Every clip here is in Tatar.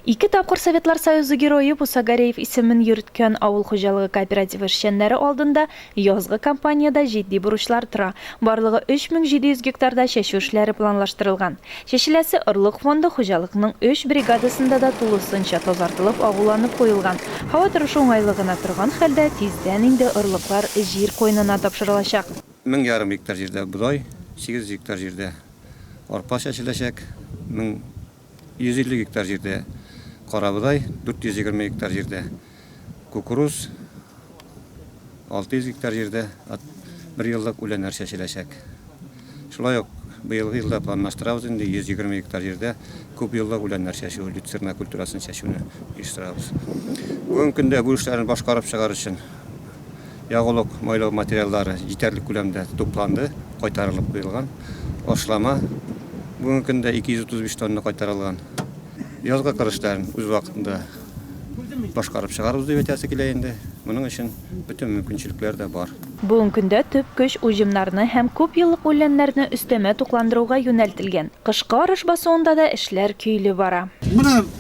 Ике тапкыр Советлар Союзы Герое Муса Гареев исемен йөрткән авыл хуҗалыгы кооперативы эшчәннәре алдында язгы кампаниядә җитди бурычлар тора. Барлыгы 3700 гектарда чәчү эшләре планлаштырылган. Чәчеләсе орлык фонды хуҗалыкның өч бригадасында да тулысынча тазартылып, агуланып куелган. Һава торышы уңайлы гына торган хәлдә, тиздән инде орлыклар җир куенына тапшырылачак. Мең ярым гектар җирдә бодай, 800 гектар җирдә арпа чәчеләчәк, мең 150 гектар җирдә карабодай, 420 гектар җирдә кукуруз, 600 гектар җирдә бер еллык үләннәр чәчеләчәк. Шулай ук быелгы елда планлаштырабыз инде 120 гектар җирдә күп еллык үләннәр чәчү, люцерна культурасын чәчүне оештырабыз. Бүгенге көндә бу эшләрне башкарып чыгар өчен Ягулык майлау материаллары җитәрлек күләмдә тупланды, кайтарылып куелган. Ашлама бүгенге көндә 235 тонна кайтарылган. Язгы кыр эшләрен үз вакытында башкарып чыгарыбыз дип әйтәсе килә инде. Моның өчен бөтен мөмкинчелекләр дә бар. Бүгенге көндә төп көч уҗымнарны һәм күп еллык үләннәрне өстәмә тукландыруга юнәлтелгән. Кышкы арыш басуында да эшләр көйле бара. Менә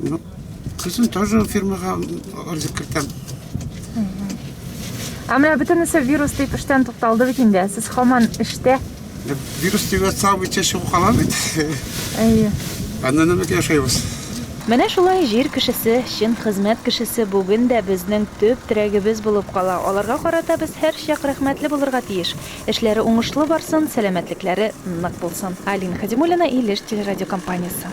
Ну, кызым тоже фирмага арыз кертәм. Ә менә бөтенесе вирус дип эштән тукталды бит инде. Сез хаман эштә. Вирус дип атсам, ичә чыгып кала бит. Әйе. Аннан нәмәк яшәйбез. Менә шулай җир кешесе, чын хезмәт кешесе бүген дә безнең төп терәгебез булып кала. Аларга карата без һәрчак рәхмәтле булырга тиеш. Эшләре уңышлы барсын, сәламәтлекләре нык булсын. Алина Хәдимуллина, Илеш телерадиокомпаниясе.